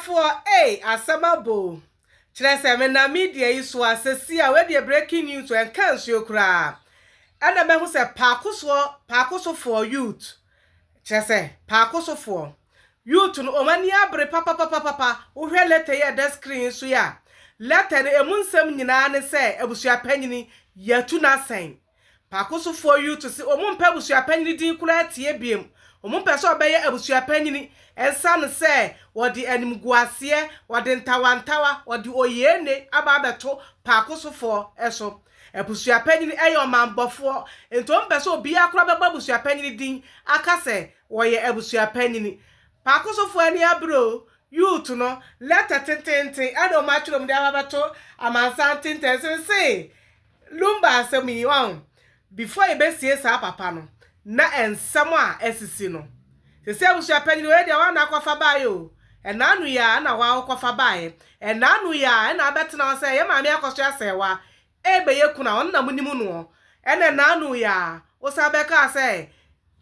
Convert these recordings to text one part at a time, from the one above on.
Ɔbɔfoɔ ei asɛm abɔ o. Kyerɛ sɛ menam media yi so a sɛsi a wei deɛ breaking news o ɛnka nsuo koraa ɛna mahu sɛ paakosoɔ paakosofoɔ youth kyerɛ sɛ paakosofoɔ youth no wɔn ani abere papapapapa wohwɛ letter yi a ɛda screen yi so yi a letter no ɛmu nsɛm nyinaa ne sɛ abusuapanyini yɛatu no asɛn Paakosofo yi to se wɔmpɛ abusua panyin din koraa tie bio. Wɔmpɛ sɛ ɔbɛyɛ abusua panyin esiane sɛ wɔde animguaseɛ, wɔde ntawantawa, wɔde oyeene aba abɛto Paakosofo so. Abusua panyin yɛ ɔmammɔfo, enti wɔmpɛ sɛ obiara koraa bɛbɔ abusua panyin din aka sɛ ɔyɛ abusua panyin. Paakosofo ani abere o, Youth no, lɛtɛ tenteenten na wɔatwerɛ mu de aba abɛto amansan tenten. Seesei. Lumba asɛm yi, wahu? Before yɛbɛsie saa papa no, na nsɛm a asisi no. Sɛsɛ abusua panyin wei deɛ woana akɔfa baeɛ o? Ɛna ano yi ara na woa wokɔfa baeɛ. Ɛna ano yi ara na abɛtena hɔ sɛ yɛ maame akɔ so asɛe wo a, ɛɛbɛyɛ kunu a ɔno na monim noɔ. Ɛna ɛna ano yi ara, wosan bɛkaa sɛ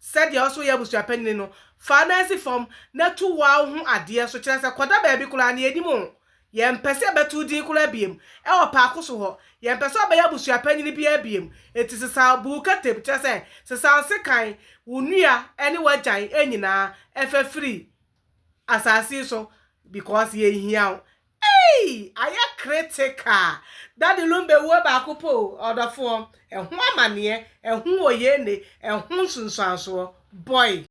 Sɛdeɛ wo so yɛ abusuapanin no, fa wo nan si fam na tu woa wo ho adeɛ so, kyerɛ sɛ, kɔda baabi koraa na yɛnnim wo. Yɛmpɛ sɛ yɛbɛto wo din koraa biom wɔ paako so hɔ. Yɛmpɛ sɛ wobɛyɛ abusuapanin biara biom. Enti sesaw, bu wo katam, kyerɛ sɛ, sesaw sekan, wo nua ne w'agyan nyinaa fa firi asase yi so, because yɛnhia wo. Eii ayɛ critical daddy lumbe wuo baako pɛ o ɔdɔfoɔ ɛho amaneɛ ɛho oyeene ɛho nsunsuansoɔ boy.